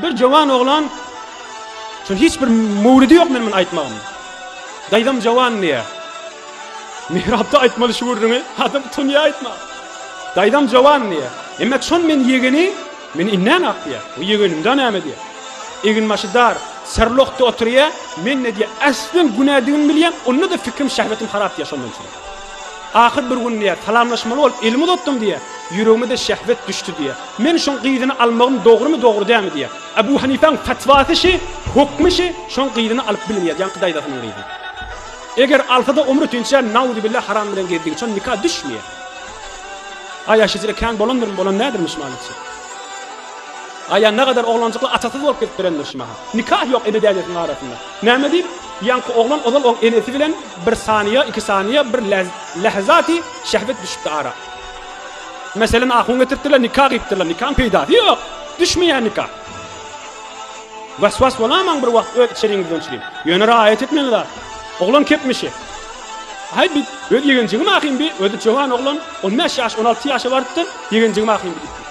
Bir jowan oglan şol hiç bir möwlidi ýok men muny aýtmagym. Daýzam jowan diýýär. Mihrapda aýtmaly şu gürrüňi adam utanýar aýtma. Daýzam jowan diýýär. Emma şon men ýegeni meni indän ak diýýär. Bu ýegenimde näme diýýär. Egin başy dar, serlokda oturýar. Men-de diýýär, äslen günädigimi bilýän, onda-da fikrim şähwetim harap diýýär şondan üçin. Ahyr bir gün, diýýär, salamlaşmaly bolup elimi uzatdym, diýýär. Ýüregime-de şähwet düşdi, diýýär. Men şoň gyzyny almagym dogrumy, dogry dälmi, diýýär. Ebu Hanipäň fetwasy şi, hökmi şi, şoň gyzyny alyp bilmeýär, ýaňky daýzasynyň gyzy. Eger alsa-da omry tünçär, nauzubilla haram bilen gezdigi üçin nika düşmeýär. Aý aşyjyra kän bolandyrmy, bolan nädirmi şu mahalyçe? Aý-a nägadar oglanjykly atasyz bolup gidip birendir şu mahal. Nika ýok ebedäniýetiň arasynda. Näme diýip, ýaňky oglan ozal oň enesi bilen bir saniýa, iki saniýa, bir lähzaty şähwet düşüpdi ara. Meselem, ahun getiripdirler, nika gyýypdyrlar, nikaň peýdasy ýok, düşmeýär nika. Waswas bolamaň bir wagt öz içeriňizde onçilim. Ýöne raýat etmeli zat. Oglan kepmişi. Aý bi öz ýegenjigim ahim bi, özi jowan oglan, on bäş ýaş, on alty ýaşa barypdyr, ýegenjigim ahim bi diýipdir.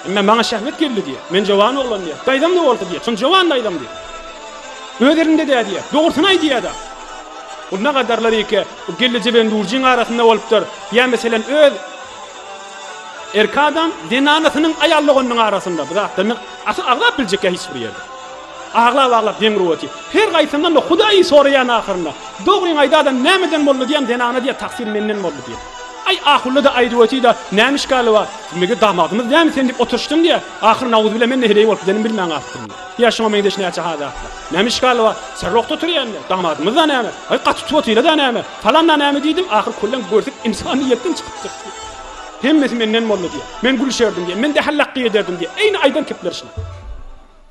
Emme maňa şähwet geldi diýýär. Men jowan oglan diýýär. Daýzam-da bolsa diýýär. Şonda jowan daýzam diýýär. Öz elinde-dä diýýär. Dogrusyny aý diýýär-de. Bu ne gadarlar eke, bu gelleje bilen durjyň arasynda bolupdyr. Ýa meselem öz erki adam zenanasynyň aýal doganynyň arasynda. Bu zatlaryny asyl agzap biljek ýa hiç bir ýerde. Aglap-aglap deň ruweti. Her gaýsyndan da Hudaýy soraýan ahyrynda. Dogryňy aýda adam nämeden boldy diýen zenana diýer taksyr menden boldy diýer. Aý ahullada aýdywetyda näme işgali bar. Mege damagymyz näme sen diýip oturyşdyň diýer. Ahyr nauzubile men näheleý bolup gidenim bilmän galypdym diýer. Ýa şuňa meňzeş näçe ha zatlar. Näme işgali bar. Serrokda oturýanda damagymyzda näme. Aý gaty tuwatylada näme. Falanda näme diýdim. Ahyr köllem görsek ynsanyýetden çykypdyr diýer. Hemmesi menden boldy diýer. Men gülüşerdim diýer. Men dehellakgy ederdim diýer. Eýni aýdan kepleri şular.